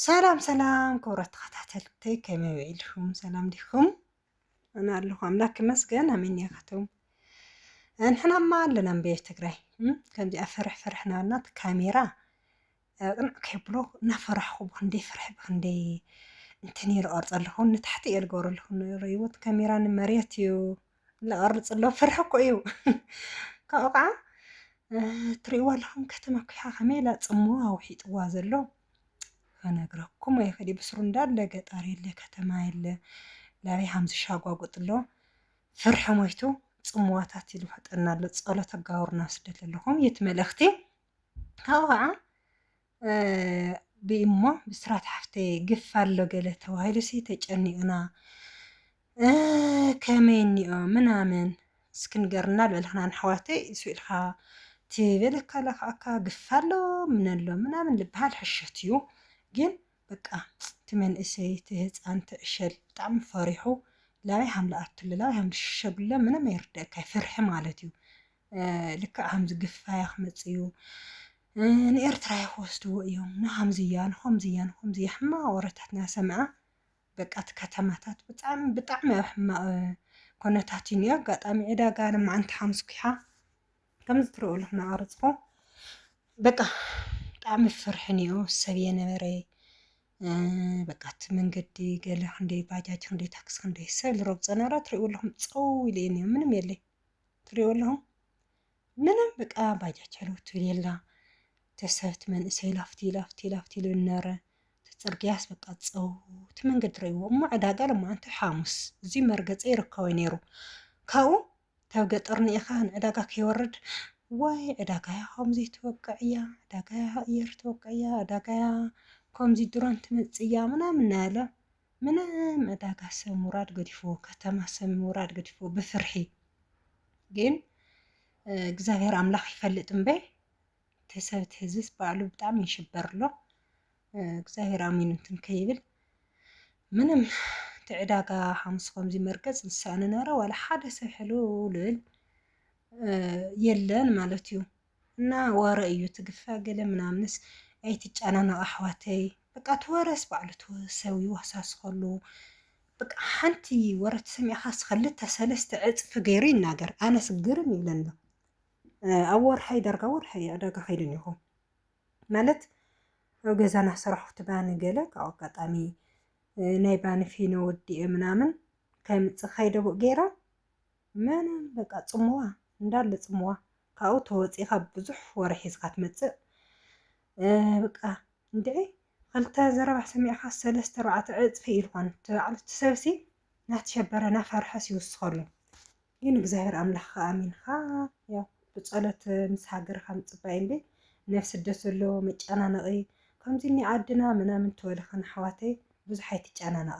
ሰላም ሰላም ክብረት ተኸታተልተይ ከመይ ውዒልኩም ሰላም ዲኹም ኣነ ኣለኹ ኣምላክ ይመስገን ኣሜን ያካትኩም ንሕናማ ኣለና እምበየ ትግራይ ከምዚኣ ፍርሕ ፍርሕ ናበልና እቲ ካሜራ ቅንዕ ከይብሎ እናፈራሕኹ ብክንደይ ፍርሒ ብክንደይ እንትን ይርቐርፀ ኣለኹ ንታሕቲ እየ ዝገብረልኹ ንርእይዎት ካሜራ ንመሬት እዩ ዝቐርፅ ኣሎ ፍርሒ እኮ እዩ ካብኡ ከዓ ትሪእዋ ኣለኹም ከተማ ኩሓ ከመይ ኢላ ፅሞ ኣውሒጥዋ ዘሎ ክነግረኩም ኣይኽእል ብስሩ እንዳለ ገጣር የለ ከተማ የለ ላበይ ሃምዚ ሻጓጉጥ ኣሎ ፍርሒ ሞይቱ ፅምዋታት ኢሉ ፈጠና ኣሎ ፀሎት ኣጋብሩና ስደት ዘለኹም የት መልእኽቲ ካብኡ ከዓ ብኢሞ ብስራት ሓፍተይ ግፍ ኣሎ ገለ ተባሂሉሲ ተጨኒቅና ከመይ እኒኦ ምናምን እስኪ ንገርና ልበልክና ንኣሕዋተይ እሱ ኢልካ ትበለካ ለክኣካ ግፍ ኣሎ ምነሎ ምናምን ልበሃል ሕሸት እዩ ግን በቃ እቲ መንእሰይ እቲ ህፃን እቲ ዕሸል ብጣዕሚ ፈሪሑ ላበይ ሃም ልኣቱለ ላበይ ሃም ልሽሸጉለ ምንም ኣይርደእካይ ፍርሒ ማለት እዩ ልክዕ ከምዚ ግፋያ ክመፅእ እዩ ንኤርትራ ክወስድዎ እዮም ንከምዝያ ንከምዝያ ንከምዝያ ሕማቅ ወረታት እናሰምዐ በቃ እቲ ከተማታት ብጣዕሚ ብጣዕሚ ኣብ ሕማቅ ኩነታት እዩ እኒኦ ኣጋጣሚ ዕዳጋ ንመዓንቲ ሓሙስ ኩሓ ከምዚ ትሪኦ ኣለኹም እናቀረፅኩ በቃ ብጣዕሚ ፍርሒ እኒኦ ሰብ የነበረ በቃ እቲ መንገዲ ገለ ክንደይ ባጃጅ ክንደይ ታክሲ ክንደይ ሰብ ዝረግፆ ነበረ ትሪእዎ ኣለኹም ፀው ኢሉ እዩ እኒኦ ምንም የለይ ትሪኦ ኣለኹም ምንም በቃ ባጃጅ ኣለው ትብል የላ ተሰብት መንእሰይ ላፍቲ ላፍቲ ላፍቲ ኢሉ ነረ ተፅርግያስ በቃ ፀው እቲ መንገዲ ረይዎ እሞ ዕዳጋ ለማዓንቲ ሓሙስ እዚ መርገፂ ይርከቦ ነይሩ ካብኡ ካብ ገጠር ንኢኻ ንዕዳጋ ከይወርድ ዋይ ዕዳጋያ ከምዚ ትወቅዕ እያ ዕዳጋያ ኣየር ትወቅዕ እያ ዕዳጋያ ከምዚ ድሮን ትመፅእ እያ ምናምን ናለ ምንም እዳጋ ሰብ ምውራድ ገዲፍዎ ከተማ ሰብ ምውራድ ገዲፍዎ ብፍርሒ ግን እግዚኣብሔር ኣምላኽ ይፈልጥ እምበይ ተሰብት ህዝብስ ባዕሉ ብጣዕሚ ይሽበር ኣሎ እግዚኣብሔር ኣሚን እንትን ከይብል ምንም እቲ ዕዳጋ ሓሙስ ከምዚ መርገፅ ዝሰኣኑ ነረ ዋላ ሓደ ሰብ ሕልውልል የለን ማለት እዩ እና ወረ እዩ ትግፋ ገለ ምናምንስ ኣይትጨናነቁ ኣሕዋተይ በቃ እቲ ወረስ ባዕሉ እቲ ሰብ ይወሳስከሉ በቃ ሓንቲ ወረ ተሰሚዕካስ ክልተ ሰለስተ ዕፅፊ ገይሩ ይናገር ኣነስ ግርም ይብለኒ ኣሎ ኣብ ወርሓይ ዳርጋ ወርሓይ ዕዳጋ ከይደ እኒኹ ማለት ኣብ ገዛና ስራሕቲ ባኒ ገለ ካብ ኣጋጣሚ ናይ ባኒ ፊኖ ወዲኤ ምናምን ከምፅእ ከይደቡእ ገይረ መን በቃ ጽምዋ እንዳለ ጽምዋ ካብኡ ተወጺእካ ብዙሕ ወረ ሒዝካ ትመጽእ በቃ እንድዒ ክልተ ዘረባ ሰሚዕካ ሰለስተ ኣርባዕተ ዕጽፊ ኢሉ ኮን ትባዕሉ እቲ ሰብሲ ናተሸበረ ናፈርሐስ ይውስኸሉ ግን እግዚኣብሔር ኣምላኽ ኣሚንካ ያው ብጸሎት ምስ ሃገርካ ምጽባይ እምበይ ናብ ስደት ዘሎ መጨናነቒ ከምዚ እኒ ዓድና ምናምን ትበልኽን ኣሕዋተይ ብዙሕ ኣይትጨናነቓ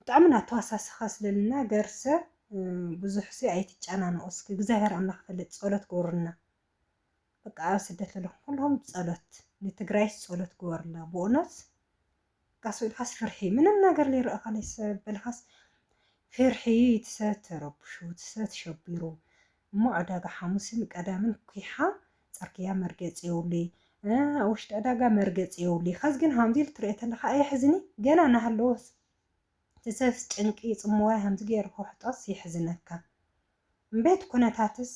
ብጣዕሚ እና ተዋሳሰካ ስለ ልናገርሰ ብዙሕሲ ኣይትጨናነቁ እስኪ እግዚኣብሔር ኣምላክ ይፈልጥ ፆሎት ግበሩልና በቃ ኣብ ስደት ዘለኩም ኩልኩም ፆሎት ንትግራይስ ፆሎት ግበሩላ ብእውነት በቃ ሰው ኢልካስ ፍርሒ ምንም ነገር ሊረእካ ለይሰ በልካስ ፍርሒ ትሰ ተረብሹ ትሰ ትሸቢሩ እሞ ዕዳጋ ሓሙስን ቀዳምን ኩሓ ጽርግያ መርገጺ የውሊ እ ውሽጢ ዕዳጋ መርገጺ የውሊ ከዝ ግን ሃምዚ ኢሉ ትርኦ ተለካ ኣየሕዝኒ ገና ናሃለወስ ትሰፍስ ጭንቂ ጽምዋይ ሃምዚ ገይሩ ክውሕጦስ የሕዝነካ እምቤት ኩነታትስ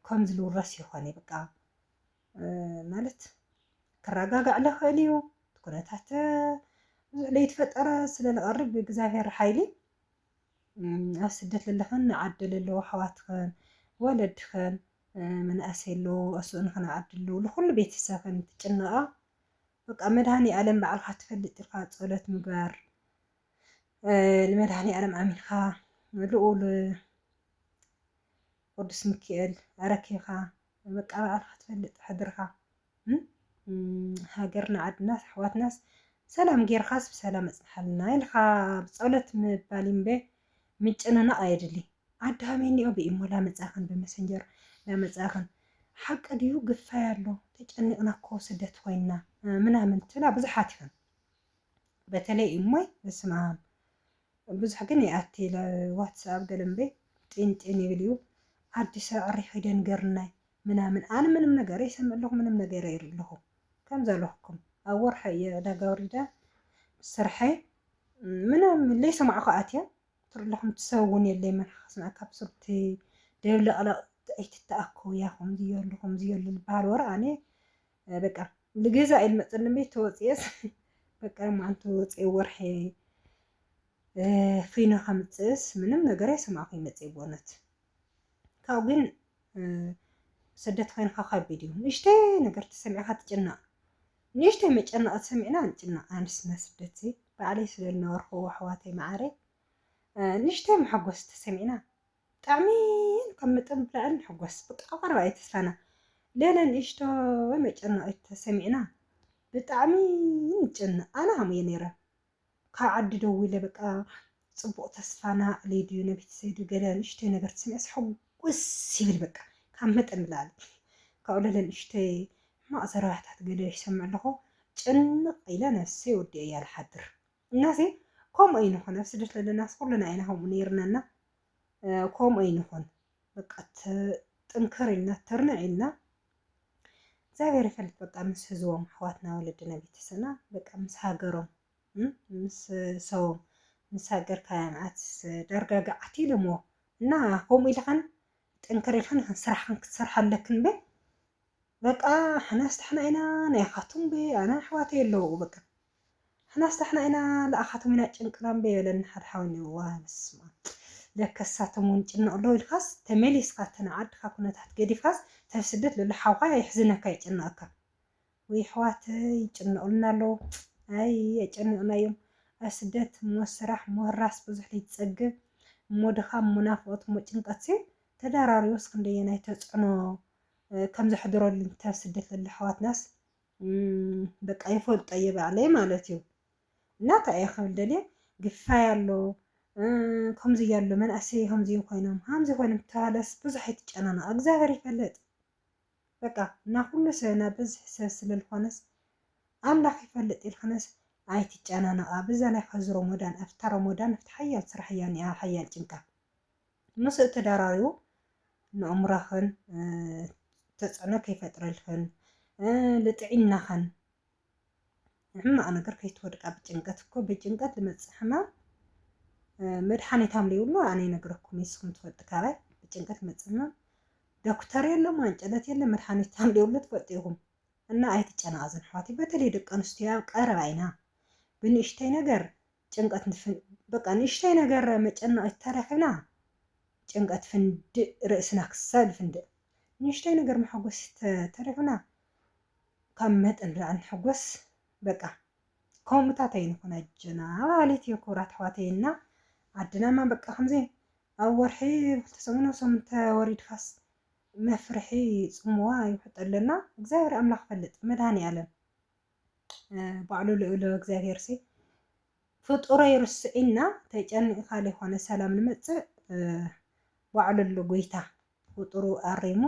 ከምዚ ልውረስ ይኮን ብቃ ማለት ክራጋጋዕ ለክእል እዩ ትኩነታት ብዙሕ ለይትፈጠረ ስለ ልቀርብ ብእግዛብሄር ሓይሊ ኣብ ስደት ለለኽን ንዓዲ ለለዉ ኣሕዋትኽን ወለድኽን መናእሰይ ኣለዉ ኣስእንኽን ንዓዲ ኣለዉ ልኹሉ ቤተሰብኽን ትጭነቓ በቃ መድሃኒኣለም ባዕልኻ ትፈልጥ ኢልካ ጸሎት ምግባር ንመድሃኒኣለም ኣሚንካ ልኡል ቅዱስ ሚካኤል ኣረኪብካ በቃ ባዕልኻ ትፈልጥ ሕድርኻ ሃገርና ዓድናስ ኣሕዋትናስ ሰላም ጌርኻስ ብሰላም ኣጽንሓልና ኢልኻ ብጸሎት ምባል እምበ ምጭንናቕ ኣየድሊ ኣድሃሚ እኒኦ ብኢሞ ላመጻኽን ብመሰንጀር ላመጻኽን ሓቂ ድዩ ግፋይ ኣሎ ተጨኒቕና እኮ ስደት ኮይንና ምናምን ትብላ ብዙሓት ኢኽን በተለይ ኢሞይ በስመኣም ብዙሕ ግን ይኣቲ ኢለ ዋትስኣብ ገለ እምበይ ጢን ጢን ይብል እዩ ዓዲ ሳዕሪ ኺደን ገርናይ ምናምን ኣነ ምንም ነገረ ይሰምዕ ኣለኹ ምንም ነገረ ይርኢ ኣለኹ ከም ዘለኹኩም ኣብ ወርሐ እየ ዕዳጋ ወሪደ ምስ ስርሐ ምንም ለይሰማዕኹ ኣትየ ትርኢ ኣለኹም ትሰብ እውን የለይ መን ኸስምዐ ካብ ሱርቲ ደብለቕለቕ ኣይትተኣከቡ እያ ኹምዚ የሉ ኹምዚ የሉ ዝበሃል ወረ ኣነ በቃ ልገዛ ኢል መፅን ቤት ተወፅኤስ በቃ ማዓልቲ ወፅኤ ወርሒ ፊኖ ከምፅእስ ምንም ነገር ኣይሰማዕኹ ይመፅእ ብእውነት ካብኡ ግን ስደት ኮይንካ ከቢድ እዩ ንእሽተይ ነገር ተሰሚዕካ ትጭነቕ ንእሽተይ መጨነቕ ተሰሚዕና ንጭነቕ ኣንስትና ስደት በዓለይ ስለዝነበርኩ ኣሕዋተይ መዓረይ ንእሽተይ መሐጎስ ተሰሚዕና ብጣዕሚ ካብ መጠን ብላዕሊ ንሕጎስ በቃ ኣብ ቀረባ እዩ ተስፋና ለለ ንእሽቶ መጨነቂት ተሰሚዕና ብጣዕሚ ንጨነቅ ኣነ ከምኡ እየ ነይረ ካብ ዓዲ ደዊለ በቃ ፅቡቅ ተስፋና ኣዕልዩ ድዩ ነቤተሰብ ድዩ ገለ ንእሽቶይ ነገር ተሰሚዐስ ሕጉስ ይብል በቃ ካብ መጠን ብላዕሊ ካብኡ ለለ ንእሽቶይ ሕማቅ ዘረባሕታት ገለ ይሰምዕ ኣለኹ ጭንቅ ኢለ ነብሰይ ወዲኤያ ልሓድር እናሲ ከምኡ ኣይንኹን ኣብ ስደት ዘለናስ ኩልና ኢና ከምኡ ነይርናና ከምኡ ኣይንኹን በቃ ጥንክር ኢልና ትርንዕ ኢልና እግዚኣብሔር ይፈልጥ በቃ ምስ ህዝቦም ኣሕዋትና ወለድና ቤተሰና በቃ ምስ ሃገሮም ምስ ሰቦም ምስ ሃገርካ ያምዓት ዳርጋ ገዓት ኢሎምዎ እና ከምኡ ኢልኻን ጥንክር ኢልኻን ኢኻን ስራሕን ክትሰርሓ ኣለክን በ በቃ ሓናስ ታሕና ኢና ናይ ካቱም በ ኣና ኣሕዋተይ ኣለዉ በቃ ንሕናስ ዳሕና ኢና ልኣኻቶም ኢና ጭንቅና እምበይ በለኒ ሓደ ሓው እኒኦ ዋይ በስማኣም ለከስ ሳቶም እውን ይጭነቁ ኣለው ኢልካስ ተመሊስካ እቲ ናይ ዓድካ ኩነታት ገዲፍካስ ተብ ስደት ለሎ ሓውካ የሕዝነካ የጨንቀካ ውይ ኣሕዋተይ ይጭነቁልና ኣለው ኣይ ኣጨኒቅናዮም ኣብ ስደት እሞ ስራሕ እሞ ህራስ ብዙሕ ለይትፀግብ እሞ ድኻም እሞ ናፍቆት እሞ ጭንቀትሲ ተዳራሪቡስ ክንደየናይ ተፅዕኖ ከም ዘሕድረሉን ተብ ስደት ለሎ ኣሕዋትናስ በቃ ይፈልጦ እየ ባዕለይ ማለት እዩ እና እንታይ እየ ክብል ደልየ ግፋይ ኣሎ ከምዚ እያሉ መንእሰይ ከምዚ ኮይኖም ከምዚ ኮይኖም ተባህለስ ብዙሕ ኣይትጨናነቕ እግዚኣብሔር ይፈልጥ በቃ እና ኩሉ ሰብና ብዝሒ ሰብ ስለልኾነስ ኣምላኽ ይፈልጥ ኢልክነስ ኣይትጨናነቓ በዛ ናይ ከዚ ሮሞዳን ኣብታ ሮሞዳን ኣብቲ ሓያል ስራሕ እያ እኒኣ ሓያል ጭንቀት ምስኡ ተዳራሪቡ ንእምሮኽን ተጽዕኖ ከይፈጥረልክን ልጥዒናኽን ሕማቅ ነገር ከይትወድቃ ብጭንቀት እኮ ብጭንቀት ልመጽእ ሕማም መድሓኒት ኣምል ይብሉ ኣነ ይነግረኩም ንስኹም ትፈልጡ ካባይ ብጭንቀት ልመጽእ ሕማም ዶክተር የለ ማንጨለት የለ መድሓኒት ኣምል ይብሉ ትፈልጡ ኢኹም እና ኣይትጨናቀዙን ኣሕዋተይ በተለይ ደቂ ኣንስትዮ ኣብ ቀረባ ኢና ብንእሽተይ ነገር ጭንቀት ንፍን በቃ ንእሽተይ ነገር መጨነቒት ተረኺብና ጭንቀት ፍንድእ ርእስና ክሳብ ዝፍንድእ ንእሽተይ ነገር መሐጎሲት ተ ተረኺብና ካብ መጠን ንላዕሊ ንሕጎስ በቃ ከምኡታት ኣይንኹን ኣጆና በሃሊት እየ ክቡራት ኣሕዋተይ እና ዓድናማ በቃ ከምዚ ኣብ ወርሒ ክልተ ሰሙን ኣብ ሰሙን ተወሪድካስ መፍርሒ ጽምዋ ይውሕጠለና እግዚኣብሔር ኣምላኽ ይፈልጥ መድሃኔ ኣለም ባዕሉ ልኡለ እግዚኣብሔር ሲ ፍጡረይ ርስዒና ተጨኒቕካ ዘይኮነ ሰላም ንመጽእ ባዕሉ ኣሎ ጎይታ ፍጡሩ ኣሪሙ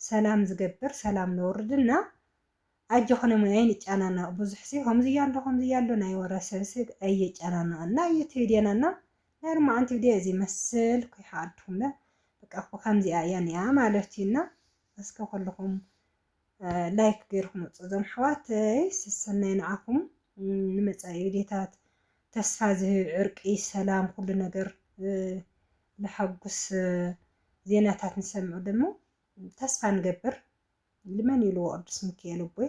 ሰላም ዝገብር ሰላም ነውርድና ኣጆኹን እሞ ኣይንጨናነቕ ብዙሕ ሲ ከምዚ ኣሎ ከምዚ ኣሎ ናይ ወረ ሰብ ሲ ኣየጨናንቐና እዩ እቲ ቪድዮና እና ናይ ርማዓንቲ ቪድዮ እዚ መስል ኩይሓኣልኩምለ በቃ እኮ ከምዚኣ እያ ኒኣ ማለት እዩና እስከ ኩልኹም ላይክ ገይርኩም ወፁ እዞም ኣሕዋተይ ሰሰናይ ንዓኹም ንመፃኢ ቪድዮታት ተስፋ ዝህብ ዕርቂ ሰላም ኩሉ ነገር ለሓጉስ ዜናታት ንሰምዑ ደሞ ተስፋ ንገብር ልመን ይሉ ቅዱስ ሚካኤል ቦይ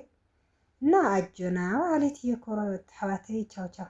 እና ኣጆና በዓል ኢትዮ ኮረበት ኣሕዋተይ ቻው ቻው